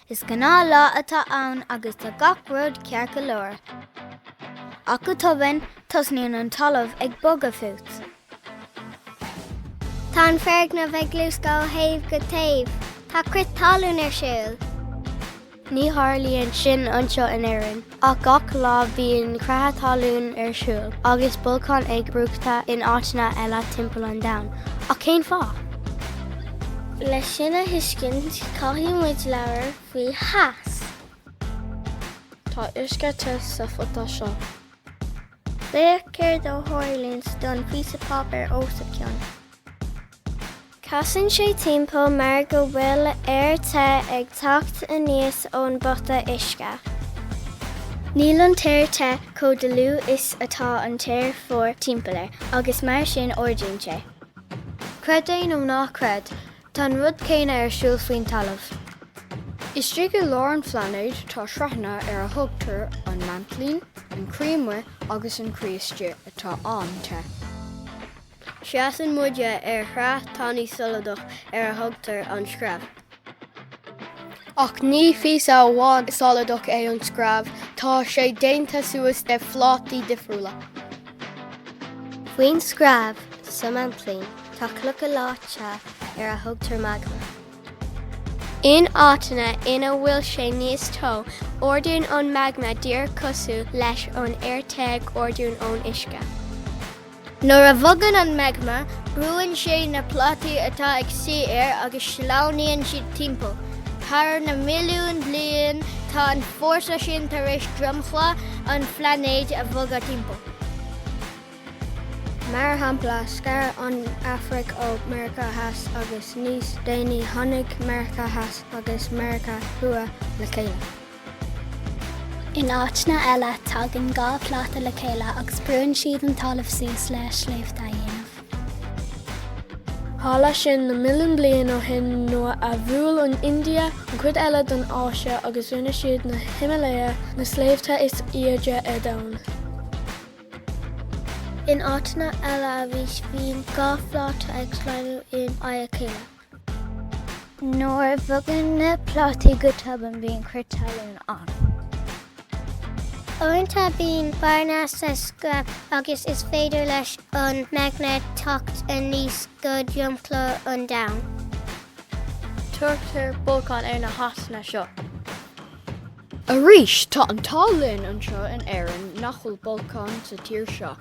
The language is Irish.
Is gnáth lá atá ann agus tá gach rud ceart go leor. Ach go tobann, tosnaíonn an talamh ag bogadh fút. Tá an foirgneamh ag luascadh ó thaobh go taobh. Tá crith talún ar siúl. Ní tharlaíonn sin anseo in Éirinn. Ach gach lá bíonn creatha talún ar siúl agus bolcáin ag brúchtadh in áiteanna eile timpeall an domhain. Ach cén fáth? Leis sin a thuiscint, caithfidh muid labhair faoi theas. Tá uisce te sa phota seo. Féach céard a tharlaíonn don phíosa páipéir os a cionn. Casann sé timpeall mar go bhfuil aer te ag teacht aníos ón bpota uisce. Níl an t-aer te chomh dlúth is atá an t-aer fuar timpeall air agus mar sin ardaíonn sé. Creid é nó ná creid, tá an rud céanna ar siúl faoin talamh. Istigh i lár an phlainéid tá sraitheanna ar a dtugtar an maintlín, an croí amuigh agus an croí istigh atá an-te. Seasann muid ar shraith tanaí soladach ar a dtugtar an screamh. Ach ní píosa amháin soladach é an screamh, tá sé déanta suas de phlátaí difriúla. Faoin screamh, sa maintlín, tá clocha leáite ar a dtugtar magma. In áiteanna ina bhfuil sé níos teo, ardaíonn an magma díreach cosúil leis an aer te ag ardú ón uisce. Nuair a bhogann an magma, brúann sé na plátaí atá ag suí air agus sleamhnaíonn siad timpeall. Thar na milliúin bliain, tá an fórsa sin tar éis dromchla an phlainéid a bhogadh timpeall. Mar shampla, scar an Afraic ó Meiriceá Theas agus níos déanaí tháinig Meiriceá Theas agus Meiriceá Thuaidh le chéile. In áiteanna eile, tagann dhá phláta le chéile agus brúann siad an talamh suas le sléibhte a dhéanamh. Tharla sin na milliúin bliain ó shin nuair a bhuail an India an chuid eile den Áise agus rinne siad na Himalaya, na sléibhte is airde ar domhan. In áiteanna eile bíonn dhá phláta ag sleamhnú in aghaidh a chéile. Nuair a bhogann na plátaí go tobann bíonn crith talún ann. Uaireanta bíonn bearna sa screamh agus is féidir leis an magma teacht aníos go dromchla an domhain. Tugtar bolcáin ar na háiteanna seo. Arís, tá an t-ádh linn anseo in Éirinn nach bhfuil bolcáin sa tír seo.